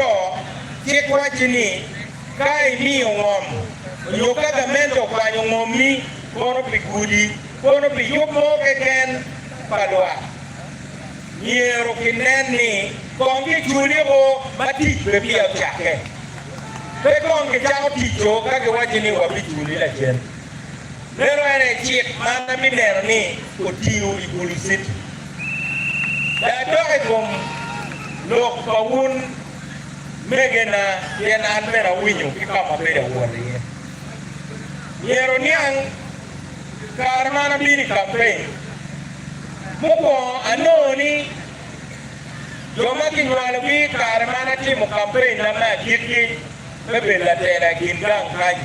Woko, cik wacci ni ka imiyo ngom nyo ka gamente okwanyo ngommi kono pi gudi kono pi yub mo keken pa lwak, myero kinen ni kong kiculi o ma tic pe peya ocakke. Pe kong kicako tic o ka giwacci ni wabiculi lacen. Meno en aye cik ma an abineno ni otiyo i Kuliciti. Pe adok i kom lok pa wun megena, pien an bene awinyo ki ka ma abedo awot iye. Myero oniang kare ma an abino i kampeny, mukwongo anongo ni jo ma kinywalogi i kare ma an atimo kampenyna me agikki me bedo latela i kin gang kanyi.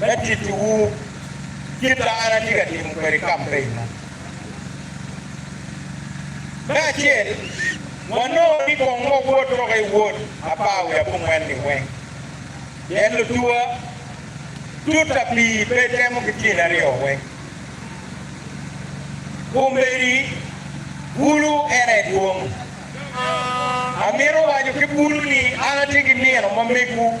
me tittiwu kit ma an atye ka timo kwede kampeina. Me acel, wanongo ni kong wawot woko i wod apar wiye abongwen-ni weng, pien lutuwa tutta pi pe temo ki tyene aryo weng. Kombeddi bulu en aye dwong. Amito waco ki bulu ni an atye ki nino ma megwu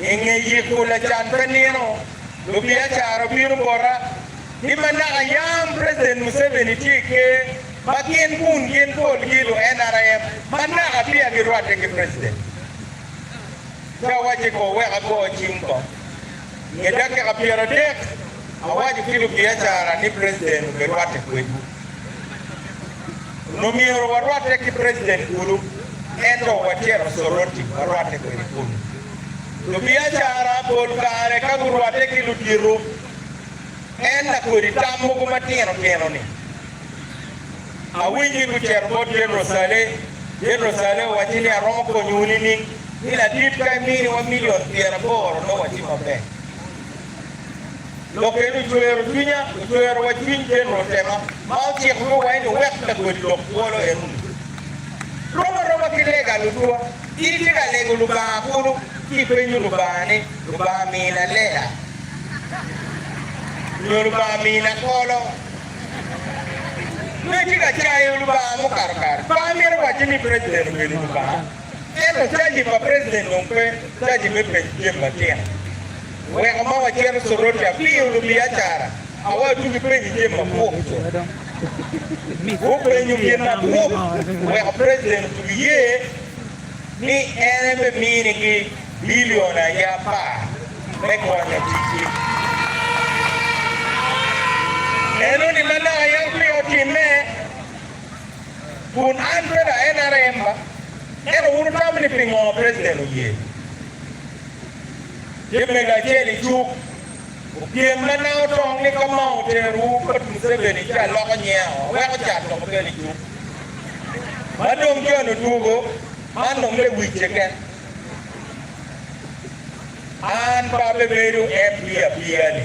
I nge yiko lacan pe nino, lubiacara obino bota ni ma naka yam President Museveni tye i ker ma gin kun gin polgi lu nrm ma naka peya girwatte ki President. Ci awacce kong wek ago cing kong. Nge dakika pyeradek, awaco ki lubiacara ni President obirwatte kwedwu. Omyero warwatte ki president kulu, ento wacito Soroti warwatte kwede kunu. Lubiacara pol kare ka gurwatte ki ludito, en lakodi tam mogo matino tino ni, Awinyo ni gucito bot General Saleh, General Saleh owacci ni aromo konyowu nining? Ni ladit ka iminiwa million pyeraboro nongo watye maber. Lok eni ocwero cwinya, ocwero wa cwiny Jener Otema ma ociko ni waen owek lagoli lok bwolo Erundu. Rom aroma ki lega Lutua, in itye ka lego Lubanga kulu ci ipenyo Lubanga ni, Lubanga mina lela nyo Lubanga mina kolo? Nyo itye ka cayo Lubanga mukato kare. Pe amito waco ni President obedo Lubanga, ento caji pa President dong pe caji me penyo jami matino. Weko ma wacito Soroti apiyo lubiacara a watu gipenyi jami mapwok co. Gupenyo gin mapwok weko president otugi ye ni en ebe mini gi billion aye apar me konyo tic gi. Eno ni manok aye opiyo otime kun an pe da NRM ba. Ento wun wutamo ni pingo president oye? Tye mego acel i cuk. Opyem ma nanga otong ni ka ma oterowu bot Museveni ci aloko nyinga aweko cat dok okel i cuk. Ma dong John odwogo, man dong lewic keken. An pe abebedo MP apiya ni.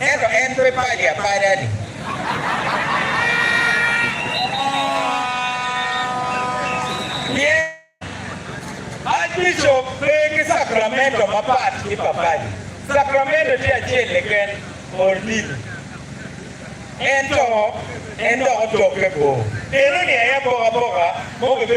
Ento en pe padi apada-ni. Pien Aac-bicop pe ki Cakramento mapat ki pa padi. Cakramento tye acel keken, Pol Tito. Ento en dok otokke bor. Eno-ni aye apokapoka mo bibedo.